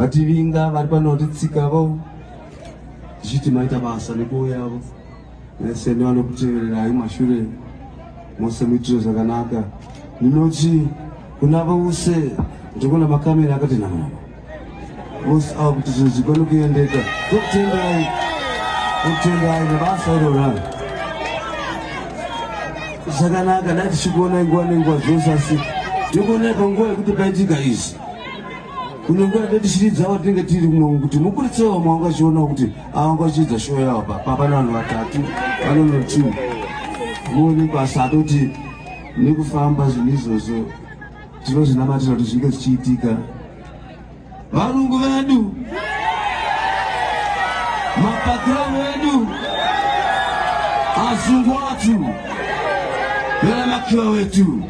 vativinga vari pano vatitsika vo tichiti maita basa nekuwo yavo vese nevanokutevererai mashure mose muitiro zvakanaka ndinoti kuna vose ndikuona makamera akati nama vose ava kuti zvinhu zvigone kuendeka tokutendai tokutendai nebasa iroraro zvakanaka dai tichikuonai nguva nenguva zvose asi tikuonai panguva yekuti paitika izvi kunyange atati shiri dzavo tinenge tiri kumwe kuti mukuritse vamwe vanga vachiona kuti avanga vachiedza showo yavo papana vanhu vatatu vanono two muone basa atoti nekufamba zvinhu izvozvo tinozvinamatira kuti zvinge zvichiitika varungu vedu mapakira vedu azungu atu veramakira wetu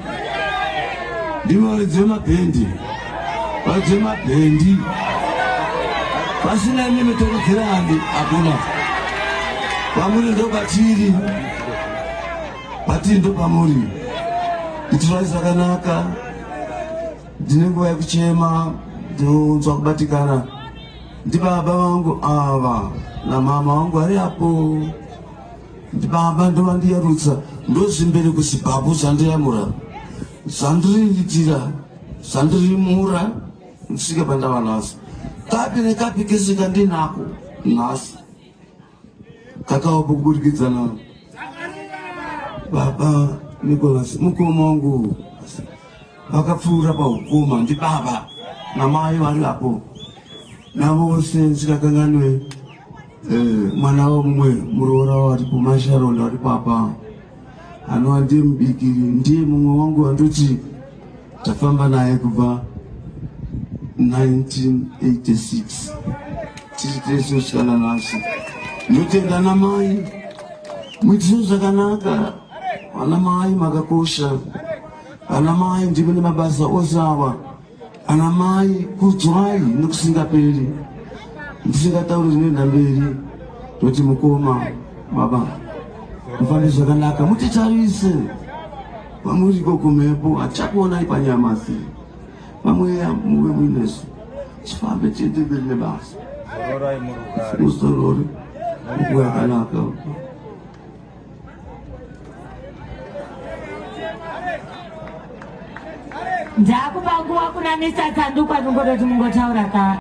ndivo ridzi vemabhendi Vadzima bhendi. Vasina imimi torudzirani hakuna. Pamuri ndo patiri. Patiri ndo pamuri. Itirai zvakanaka. Ndine nguva yekuchema ndinonzwa kubatikana. Ndibaba vangu ava namama vangu vari apo. Ndibaba ndovandiyarutsa ndozvimbere kuzimbabwe zvandiyamura. zvandiriitira zvandirimura ndisvike pandava nhasi kapi nekapi kese kandinako nhasi kakawa kubudikidzana baba nicolas mukoma wangu vakapfuura paukoma ndibaba namai vari apo navose ndisikakanganwe eh, mwana wamumwe muroora wari kumasharonda wari papa anova ndiye mubikiri ndiye mumwe wangu wandoti tafamba naye kubva 1986 tiri tese usikana nasi ndotenda namai muitiso zvakanaka vana mai makakosha vana mai ndimune mabasa ose ava Ana mai kudzwai nekusingaperi ndisingatauri zvinoenda mberi toti mukoma baba mufambe zvakanaka mutitarise kwamuri ikoko mhepo hatichakuonai panyama asi pamweya muve muinesu tifambe tiende mberi nebasa muzorori ukuyakanaka ndakupa nguva kuna mr tsandukwa kungototi mungotaura ka